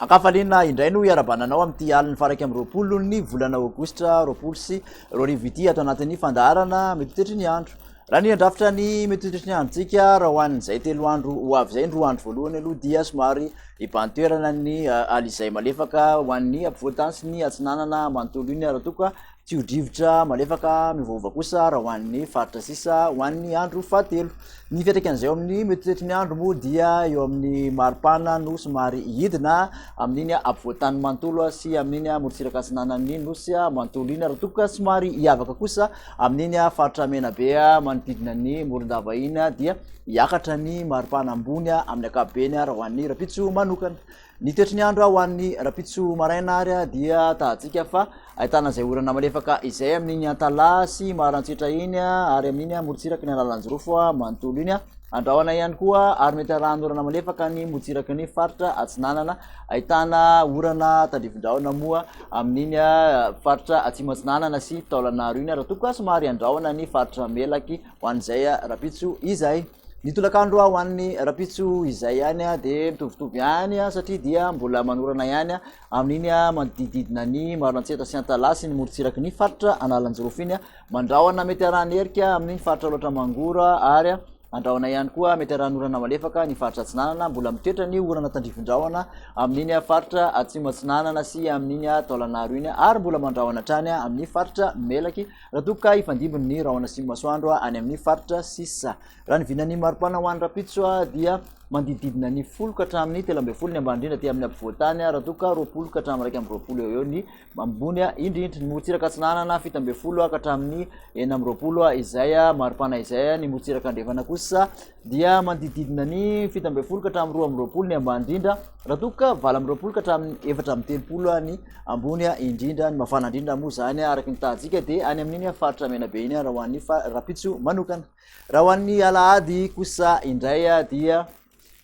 Ankafaliana indray no iarabananao amin'ity alin'ny faraika amin'ny roapolon'ny volana aogositra roapolo sy roa arivo ity ato anatin'ny fandaharana mitotetry ny andro. Raha ny handrafitra ny mitoitry ny androntsika raha ho an'izay telo andro ho avy izay ny roa andro voalohany aloha dia somary hibantoerana ny eh, alizay malefaka ho an'ny ampovoan-tany sy ny atsinanana manontolo iny raha tokoa tsy ho drivotra malefaka mivohova kosa raha ho an'ny faritra sisa ho an'ny andro fahatelo ny fiatraikan' izay eo amin'ny mitoitry ny andro moa dia eo amin'ny maripana no somary hidina amin'iny ampovoan-tany manontolo sy amin'iny amorotsiraka atsinanan'ny nosy manontolo iny raha tokoa somary hiavaka kosa Amin'iny faritra Menabe manodidina ny Morondava iny dia hiakatra ny maripana ambony amin'ny ankapobeny raha ho an'ny Rapitso manokana. Ny toetry ny andro ho an'ny Rapitso maraina ary dia tahantsika fa ahitana izay orana malefaka izay amin'iny Antalaha sy Marantsitra iny ary amin'iny Morotsiraky ny Alalanjirofo manontolo iny. Andrahona ihany koa ary mety arahan'orana malefaka ny Motsiraky ny faritra Atsinanana ahitana orana tandrifin-drahona moa amin'iny faritra Atsimo Atsinanana sy Taolagnaro iny, raha toa ka somary andrahona ny faritra Melaky ho an'izay rahampitso izay. Ny tolakandro ho an'ny rahampitso izay ihany dia mitovitovy ihany satria dia mbola manorana ihany amin'iny manodidididina ny Maroantsetra sy Antalaha sy ny morontsiraky ny faritra Analanjirofo iny, mandrahona mety harahan'ny herika amin'iny faritra Alaotra Mangoro ary Andrahona ihany koa mety arahan'orana malefaka ny faritra atsinanana. Mbola mitoetra ny orana tandrifin-drahona amin'iny faritra atsimo atsinanana sy amin'iny taolanaro iny ary mbola mandrahona hatrany amin'ny faritra melaky raha toa ka hifandimby ny rahona sy masoandro any amin'ny faritra sisa. Raha ny vinan'ny maripana ho any rapitso dia mandidididina ny folo ka hatramin'ny telo ambin'ny folo ny ambany indrindra aty amin'ny ampovoan-tany raha toa ka roapolo ka hatramin'ny iraika amby roapolo eo eo ny ambony a indry indry ny morotsiraka atsinanana fito ambin'ny folo a ka hatramin'ny enina amby roapolo a izay a maripana izay a ny morotsiraka andrefana kosa dia manodidididina ny fito ambin'ny folo ka hatramin'ny roa amby roapolo ny ambany indrindra raha toa ka valo amby roapolo ka hatramin'ny efatra amby telopolo a ny ambony a indrindra ny mafana indrindra moa izany a araka ny tahantsika dia any amin'iny a faritra mena be iny a raha ho an'ny fa- rapitso manokana raha ho an'ny alahady kosa indray a dia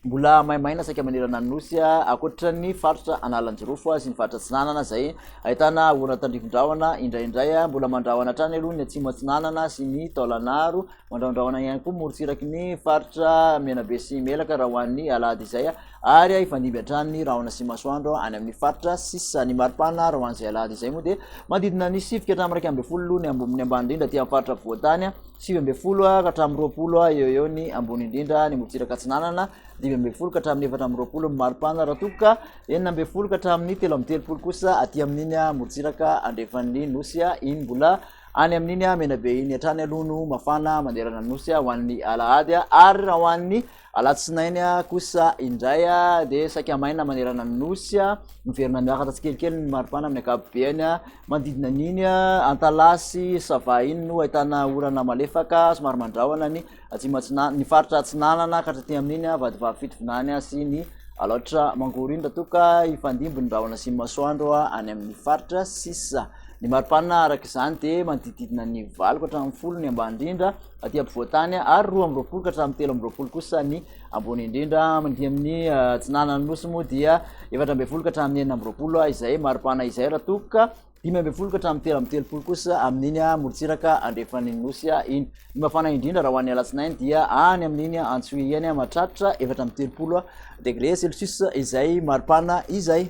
Mbola maimaina saika manerana ny nosy, ankoatra ny faritra Analanjirofo sy ny faritra Atsinanana izay ahitana orana tandrivindrahona indraindray. Mbola mandrahona hatrany aloha ny Atsimo Atsinanana sy ny Taolagnaro. Mandrahondrahona ihany koa morontsiraky ny faritra Menabe sy Melaka raha ho an'ny alahady izay, ary hifandimby hatrany ny rahona sy masoandro any amin'ny faritra sisa. Ny maripana raha ho an'izay alahady izay moa dia manodidina ny sivy ka hatramin'ny iraika ambin'ny folo aloha ny ambony ambany indrindra aty amin'ny faritra afovoan-tany. sivy ambin'ny folo ka hatramin'ny roapolo eo ho eo ny ambony indrindra ny morontsiraka atsinanana, dimy ambin'ny folo ka hatramin'ny efatra amby roapolo ny maripana, raha toa ka enina ambin'ny folo ka hatramin'ny telo amby telopolo kosa aty amin'iny morontsiraka andrefan'ny nosy iny mbola any amin'iny Menabe iny hatrany aloha no mafana manerana ny nosy ho an'ny alahady, ary raha ho an'ny Alatsinainy kosa indray dia saika maina manerana ny Nosy, miverina miakatra tsikelikely ny maripana amin'ny ankapobeny, manodidina an'iny Antalaha sy Sava iny no ahitana orana malefaka somary mandrahona ny atsimo atsinanana, ny faritra atsinanana ka hatraty amin'iny Vatovavy Fitovinany sy ny Alaotra Mangoro iny raha toa ka hifandimby ny rahona sy ny masoandro any amin'ny faritra sisa. Ny maripana araka izany dia manodidididina ny valo ka hatramin'ny folo ny ambany indrindra aty ampovoan-tany ary roa amby roapolo ka hatramin'ny telo amby roapolo kosa ny ambony indrindra mandihy amin'ny atsinanan'ny nosy moa dia efatra ambin'ny folo ka hatramin'ny enina amby roapolo izay maripana izay raha toa ka dimy ambin'ny folo ka hatramin'ny telo amby telopolo kosa amin'iny morontsiraka andrefan'ny nosy iny ny mafana indrindra raha ho an'ny alatsinainy dia any amin'iny antsohiany mahatratra efatra amby telopolo degre celsius izay maripana izay